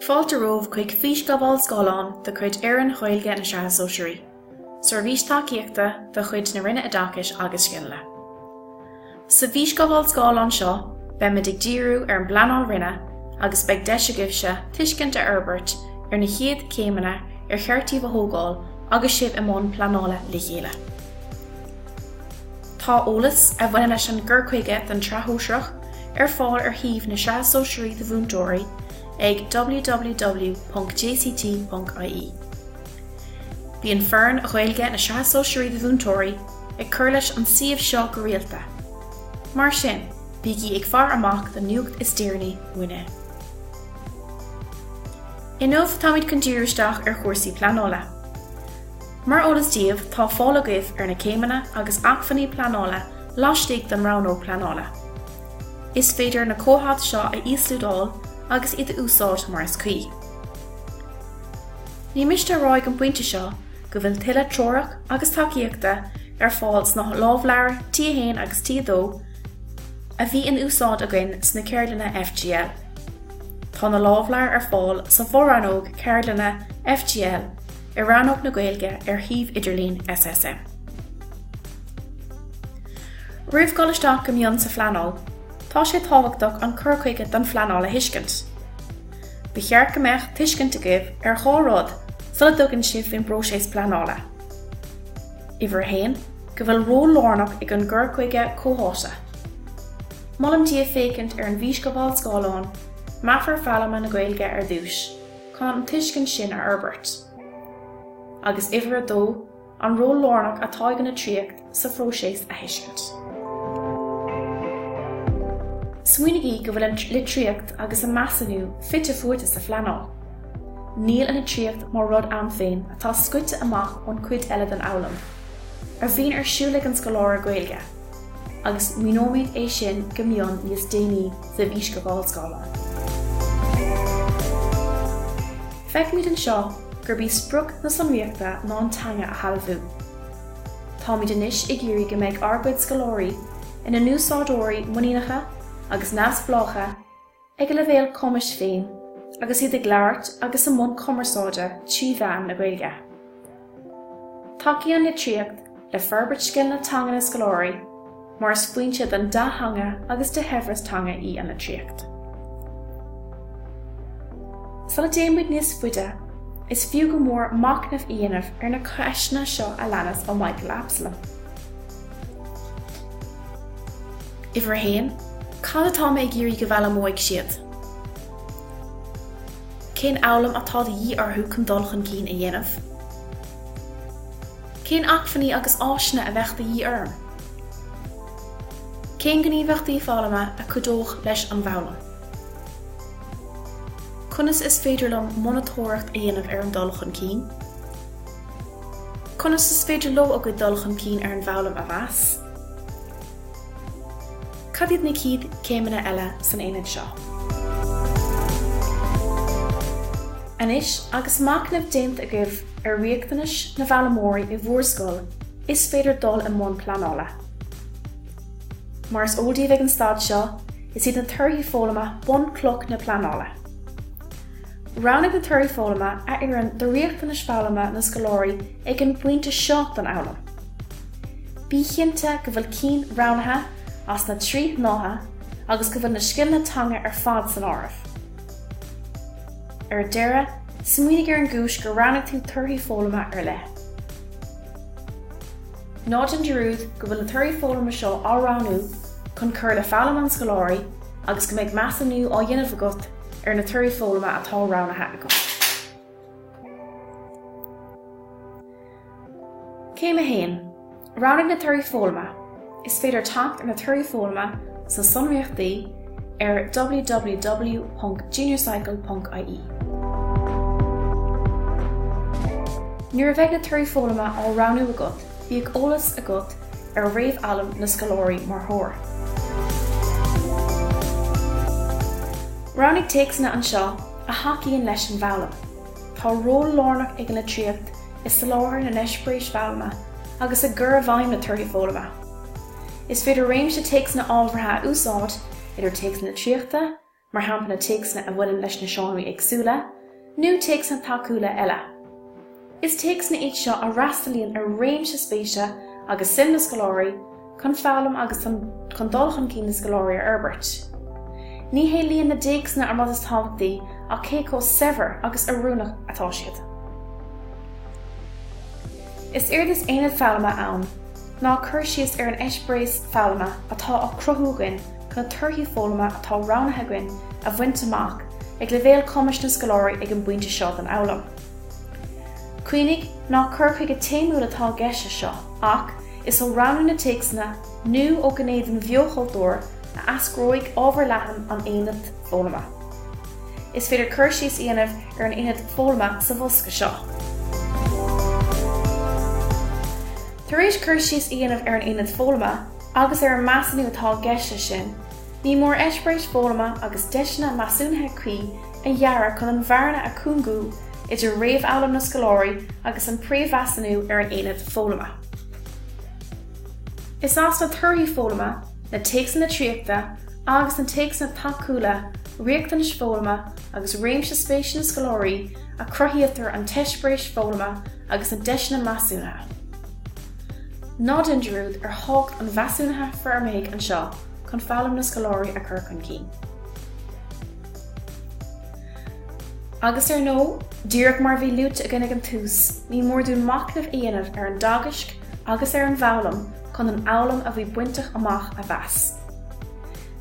Fáilte romhaibh chuig Físghabháil Scáileáin de chuid Fhoireann Ghaeilge na Sraithe Sóisearaí, Seirbhís Tacaíochta de chuid na Roinne Oideachais agus Scileanna. Sa bhfísghabháil scáileáin seo beimid ag díriú ar an bpleanáil roinne agus beidh deis agaibhse tuiscint a fhorbairt ar na chéad chéimeanna ar cheart daoibh a thógáil agus sibh i mbun pleanála le chéile. Tá eolas a bhaineann leis an gcur chuige don tSraith Shóisearach ar fáil ar shuíomh na Sraithe Sóisearaí do Mhúinteoirí ag www.jct.ie. Bíonn foireann Ghaeilge na Sraithe Sóisearaí do Mhúinteoirí ag cur leis an suíomh seo go rialta, mar sin bígí ag faire amach don nuacht is deireanaí uainne. Inniu táimid chun díriú isteach ar chúrsaí pleanála. Mar eolas daoibh, tá fáil agaibh ar na céimeanna agus acmhainní pleanála laistigh den rannóg pleanála. Is féidir na comhaid seo a íoslódáil agus iad a úsáid mar is cuí. Ní miste a rá ag an bpointe seo go bhfuil tuilleadh treorach agus tacaíochta ar fáil sna lámhleabhair T1 agus T2 a bhí in úsáid againn sna ceardlanna FGL. Tá na lámhleabhair ar fáil sa bhfo-rannóg Ceardlanna FGL ar Rannóg na Gaeilge ar shuíomh idirlín SSM. Roimh dhul isteach go mion sa phleanáil, tá sé tábhachtach an cur chuige don phleanáil a thuiscint. Ba cheart go mbeadh tuiscint agaibh ar dhá rud sula dtugann sibh faoin bpróiseas pleanála. Uimhir a haon, go bhfuil ról lárnach ag an gcur chuige comhtháite. Molaim daoibh féachaint ar an bhfísghabháil scáileáin, Meafar Foghlama na Gaeilge ar dtús. chun an tuiscint sin a fhorbairt. Agus uimhir a dó, an ról lárnach atá ag an litríocht sa phróiseas a thuiscint. Smaoinigí go bhfuil an litríocht agus an measúnú fite fuaite sa phleanáil. Níl an litríocht mar rud ann féin atá scoite amach ón chuid eile den fhoghlaim a bhíonn ar siúl ag an scoláire Gaeilge. agus míneoimid é sin go mion níos déanaí sa bhfísghabháil scála. Feicimid anseo gurb í sprioc na sonraíochta ná an teanga a shealbhú. Táimid anois ag iarraidh go mbeidh ár gcuid scoláirí ina n-úsáideoirí muiníneacha agus neamhspleácha ag a leibhéal cumais féin agus iad ag labhairt agus i mbun cumarsáide trí mheán na Gaeilge. Tacaíonn an litríocht le forbairt scileanna teanga na scoláirí mar is foinse don dea-theanga agus de shaibhreas teanga í an litríocht. Sula dtéimid níos faide, is fiú go mór machnamh a dhéanamh ar na ceisteanna seo a leanas ó Michael Absalom. Uimhir a haon, cad atá mé ag iarraidh go bhfoghlaimeoidh siad? Cén fhoghlaim atá de dhíth orthu chun dul chun cinn a dhéanamh? Cén acmhainní agus áiseanna a bheidh de dhíth orm? Cén gníomhaíochtaí foghlama a chuideodh leis an bhfoghlaim? Conas is féidir liom monatóireacht a dhéanamh ar an dul chun cinn? Conas is féidir leo a gcuid dul chun cinn ar an bhfoghlaim a mheas? Cad iad na chéad chéimeanna eile san aonad seo? Anois agus machnamh déanta agaibh ar riachtanais na bhfoghlaimeoirí i bhúr scoil is féidir dul i mbun pleanála. Mar is eol daoibh ag an staid seo, is iad na torthaí foghlama bunchloch na pleanála. Roghnaigh na Torthaí Foghlama a oireann do riachtanais foghlama na scoláirí ag an bpointe seo den fhoghlaim. Bí chinnte go bhfuil cinn roghnaithe as na trí shnáithe agus go bhfuil na scileanna teanga ar fad san áireamh. Ar deireadh, smaoinigh ar an gcúis gur roghnaigh tú Torthaí Foghlama ar leith. Ná déan dearúd go bhfuil na Torthaí Foghlama seo á roghnú chun cur le foghlaim na scoláirí agus go mbeidh measúnú á dhéanamh agat ar na torthaí foghlama atá roghnaithe agat. Céim 1, Roghnaigh na torthaí foghlama, Is féidir teacht ar na torthaí foghlama sna sonraíochtaí ar www.juniorcycle.ie. Nuair a bheidh na torthaí foghlama á roghnú agat, Bíodh eolas agat ar réamhfhoghlaim na scoláirí mar threoir. Roghnaigh téacsanna anseo a thacaíonn leis an bhfoghlaim. Tá ról lárnach ag an litríocht i soláthar na n-eispéiris foghlama agus i gcur i bhfeidhm na torthaí foghlama. Is féidir réimse téacsanna ábhartha a úsáid, idir téacsanna litríochta, mar shampla téacsanna a bhaineann leis na seánraí éagsúla, nó téacsanna tacúla eile. Is téacsanna iad seo a fhreastalaíonn ar réimse spéise agus suim na scoláirí chun foghlaim agus chun dul chun cinn na scoláirí a fhorbairt. Ní hé líon na dtéacsanna an rud is tábhachtaí ach cé chomh saibhir agus oiriúnach atá siad. Is éard is Aonad Foghlama ann ná cur síos ar an eispéireas foghlama atá á cruthú againn na torthaí foghlama atá roghnaithe againn a bhaint amach ag leibhéal cumais na scoláirí ag an bpointe seo den fhoghlaim. Cuimhnigh, nach cur chuige téamúil atá i gceist leis seo, ach is ó roghnú na téacsanna nó ó ghné den bheo-chultúr a eascróidh ábhar leathan an aonaid foghlama. Is féidir cur síos a dhéanamh ar an aonad foghlama sa bhosca seo. Tar éis cur síos a dhéanamh ar an aonad foghlama, agus ar an measúnú atá i gceist leis sin, ní mór eispéiris foghlama agus deiseanna measúnaithe cuí a dhearadh chun an bhearna a chúngú idir réamhfhoghlaim na scoláirí agus an príomh-mheasúnú ar an aonad foghlama. Is as na torthaí foghlama, na téacsanna litríochta agus na téacsanna tacúla, riachtanais foghlama agus réimse spéise na scoláirí a chruthaítear an t-eispéiris foghlama agus na deiseanna measúnaithe. Ná déan dearúd ar thábhacht an mheasúnaithe fhoirmithigh anseo chun foghlaim na scoláirí a chur chun cinn. Agus ar ndóigh, díreach mar a bhí luaite againn ag an tús, ní mór dúinn machnamh a dhéanamh ar an dteagasc agus ar an bhfoghlaim chun an fhoghlaim a bhí bainte amach a mheas.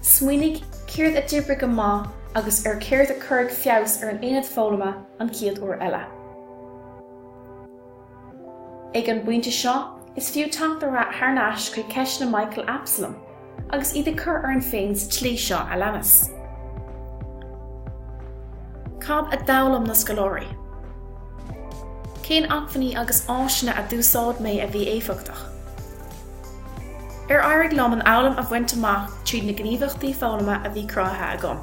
Smaoinigh, céard a d'oibrigh go maith agus ar céard a chuirfeadh feabhas ar an aonad foghlama an chéad uair eile. Ag an bpointe seo, is fiú teacht thar n-ais chuig ceisteanna Michael Absolum, agus iad a chur orainn féin sa tslí seo a leanas. Cad a d'fhoghlaim na scoláirí? Cén acmhainní agus áiseanna a d'úsáid mé a bhí éifeachtach? Ar éirigh liom an fhoghlaim a bhaint amach tríd na gníomhaíochtaí foghlama a bhí cruthaithe agam?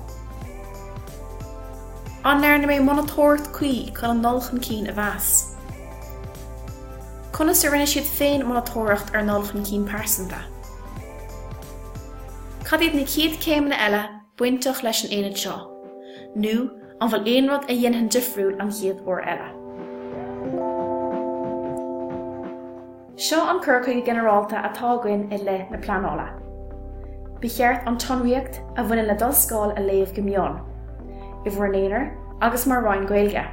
An ndearna mé monatóireacht cuí chun an dul chun cinn a mheas? Conas a rinne siad féin monatóireacht ar a ndul chun cinn pearsanta? Cad iad na chéad chéimeanna eile bainteach leis an aonad seo, nó an bhfuil aon rud a dhéanfainn difriúil an chéad uair eile? Seo an cur chuige ginearálta atá againn i leith na pleanála. Ba cheart an tsonraíocht a bhaineann le do scoil a léamh go mion, i bhur n-aonar agus mar Roinn Gaeilge.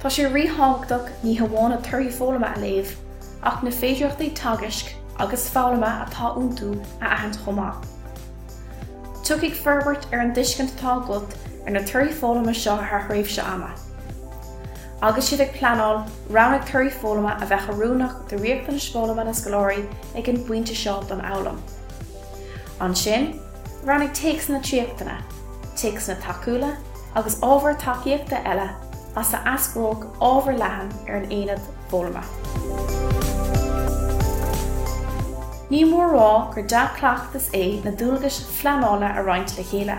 Tá sé ríthábhachtach ní hamháin na torthaí foghlama a léamh, ach na féidearthachtaí teagaisc agus foghlama atá iontu a aithint chomh maith. Tiocfaidh forbairt ar an dtuiscint atá agat ar na torthaí foghlama seo thar thréimhse ama. Agus sibh ag pleanáil, roghnaigh torthaí foghlama a bheadh oiriúnach do riachtanais foghlama na scoláirí ag an bpointe seo den fhoghlaim. Ansin, roghnaigh téacsanna litríochta, téacsanna tacúla agus ábhair tacaíochta eile as a eascródh ábhar le haghaidh an aonaid foghlama. Ní mór a rá gur dea-chleachtas é na dualgais phleanála a roinnt le chéile.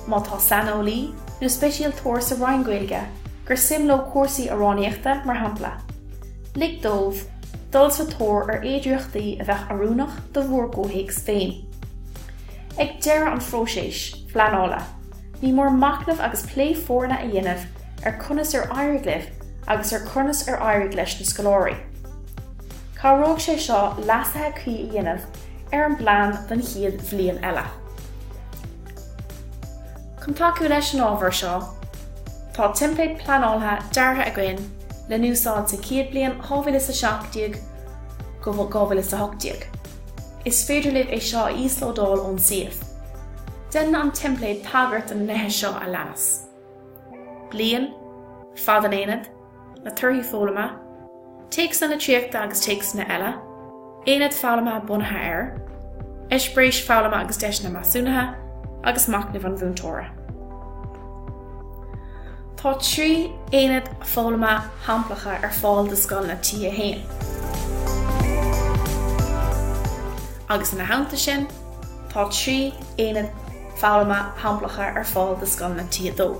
má tá saineolaí nó speisialtóir sa Roinn Gaeilge gur suim leo cúrsaí amhránaíochta, mar shampla, lig dóibh dul sa tóir ar fhéidearthachtaí a bheadh oiriúnach do bhur gcomhthéacs féin. Ag deireadh an phróisis phleanála, ní mór machnamh agus plé foirne a dhéanamh ar conas ar éirigh libh agus ar conas ar éirigh leis na scoláirí. Cabhróidh sé seo leasuithe cuí a dhéanamh ar an bplean don chéad bhliain eile. Chun tacú leis an ábhar seo, tá teimpléad pleanála deartha againn le n-úsáid sa chéad bliain 2017-2018. Is féidir libh é seo a íoslódáil ón suíomh. Déanann an teimpléad tagairt do na nithe seo a leanas. bliain, fad an aonaid, na torthaí foghlama, téacsanna litríochta agus téacsanna eile, aonaid foghlama bunaithe air, eispéiris foghlama agus deiseanna measúnaithe, agus machnamh an mhúinteora. Tá trí aonad foghlama shamplacha ar fáil do scoileanna T1. agus ina theannta sin. Tá trí aonad foghlama shamplacha ar fáil do scoileanna T2.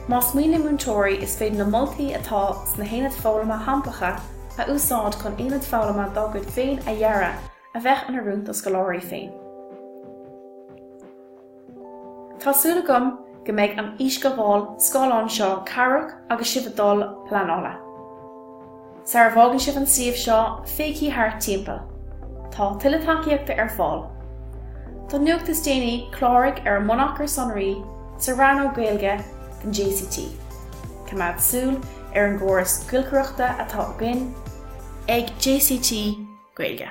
Más mian le múinteoirí, is féidir na moltaí atá sna haonaid foghlama shamplacha a úsáid chun aonad foghlama dá gcuid féin a dhearadh a bheadh oiriúnach dá scoláirí féin. Tá súil agam go mbeidh an fhísghabháil scáileáin seo cabhrach agus sibh ag dul ag pleanála. Sara bhfágann sibh an suíomh seo, féachaigí thart timpeall. Tá tuilleadh tacaíochta ar fáil. Don nuacht is déanaí, cláraigh ar an mbunachar sonraí sa rannóg Gaeilge den JCT. Coimeád súil ar an gcóras giolcaireachta atá againn ag JCT Gaeilge.